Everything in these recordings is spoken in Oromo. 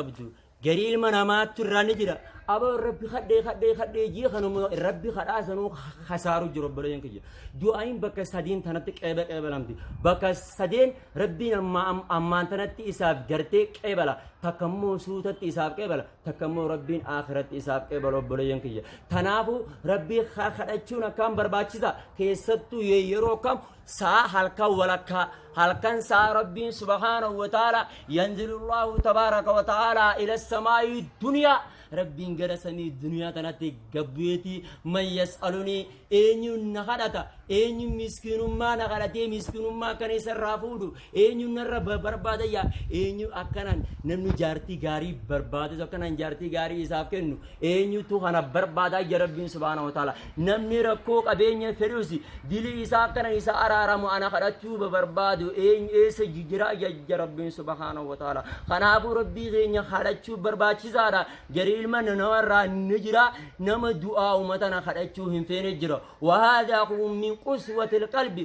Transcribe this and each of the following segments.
qabdu garii ilma namaattu irraa ni jira aboo rabbi kadhee kadhee kadhee jii kanuma rabbi kadhaa sanuu kasaaru jiru obboleeyyan kiyya du'aayin bakka sadiin tanatti qeeba qeebalamti bakka sadeen rabbiin amma am- ammaan tanatti isaaf gartee qeebala takka immoo suutatti isaaf qeebala takka immoo rabbiin aakiratti isaaf qeebala obboleeyyan kiyya tanaafu rabbii ka- kadhachuun akkaan barbaachisa keessattuu ye- yeroo kam saa halkan walakkaa halkan saa rabbiin subhaanahu wa ta'ala yanzilullahu tabaaraka wa ta'ala ila samaa'i duniyaa rabbiin gara samii duniyaa tanatti gabbu'eeti man yas'alunii eenyuun na kadhata eenyuun miskiinummaa na kadhatee miskiinummaa kan isarraa fuudhu Eenyu narra ba- barbaada yaa eenyu akkanaan namni jaartii gaarii barbaadu akkanaan jaartii gaarii isaaf kennu eenyutu kana barbaada ija rabbiin subhaanahu wa ta'ala namni rakkoo qabeenya fedhus dilii isaa akkanaan isa araaramu ana kadhachuu ba- barbaadu eenyu eessa ji- jira ija ija rabbiin subhaanahu wa ta'ala kanaafuu rabbii keenya kadhachuu barbaachisaadha jarii ilma namarraa ni jira nama du'aa umatana kadhachuu hin feene jira wahaadaa kun min quswatil qalbi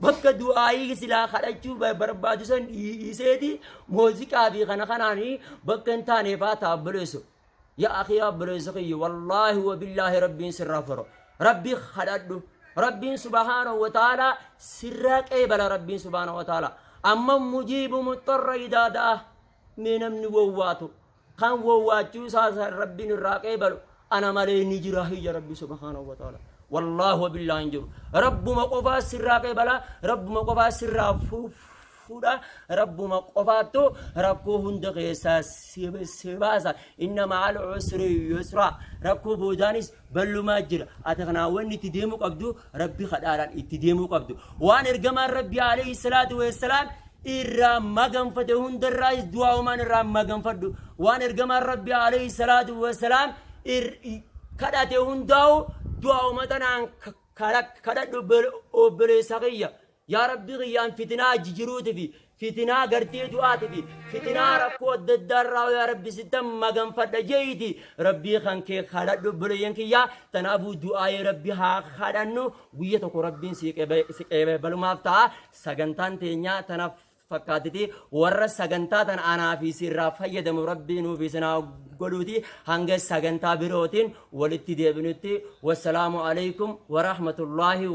Bakka du'aayii silaa kadhachuu ba- barbaadu san dhii- dhiiseeti muuziqaa fi kana kanaanii bakka hin taane faata obboleesso. Yaa akhi obboleesso kiyya wallaahi wabillaahi rabbiin sirraa faro. Rabbi kadhadhu. Rabbiin subhaanahu wa ta'aalaa sirraa qeebala rabbiin subhaanahu wa ta'aalaa. Amma mujiibu muxxarra idaa da'a. Mee namni wawwaatu Kan wowwaachuu isaa san Rabbiin irraa qeebalu ana malee ni jira hiyya Rabbi subhaanahu wa ta'ala. Wallaahi wa billaahi hin jiru. Rabbuma qofaa sirraa qeebala, Rabbuma qofaa sirraa fu- fuudha, Rabbuma qofaattu rakkoo hunda keessaa si si baasa. Inna ma'al usri yusra. Rakkoo boodaanis ballumaa jira ati kanaa wanni itti deemuu qabdu rabbi kadhaadhaan itti deemuu qabdu waan ergamaan rabbi alayhi salaatu wassalaam irraa maganfate hundarraayis du'aa umaan irraa maganfadhu waan ergamaan rabbi alayhi salaatu wassalaam ir- kadhate hundaa'u du'aa umatanaan kadhadhu obboleessa kiyya Yaa Rabbii kiyya an fitinaa jijiruutifi fitinaa gartee du'aatifi fitinaa rakkoo adda addaa irraa yaa Rabbi sittan maganfadha je'iiti Rabbii kan kee kadhadhu obboleeyyan kiyya tanaafuu du'aa'ee Rabbi haa kadhannu guyya tokko Rabbiin si qebe- si qeebalumaaf ta'a sagantaan teenyaa tanaaf fakkaatiti warra sagantaa tan anaa fi sirraa fayyadamu rabbii nuuf isinaa godhuuti hanga sagantaa birootiin walitti deebinutti wassalaamu alaikum warahmatullaahi wa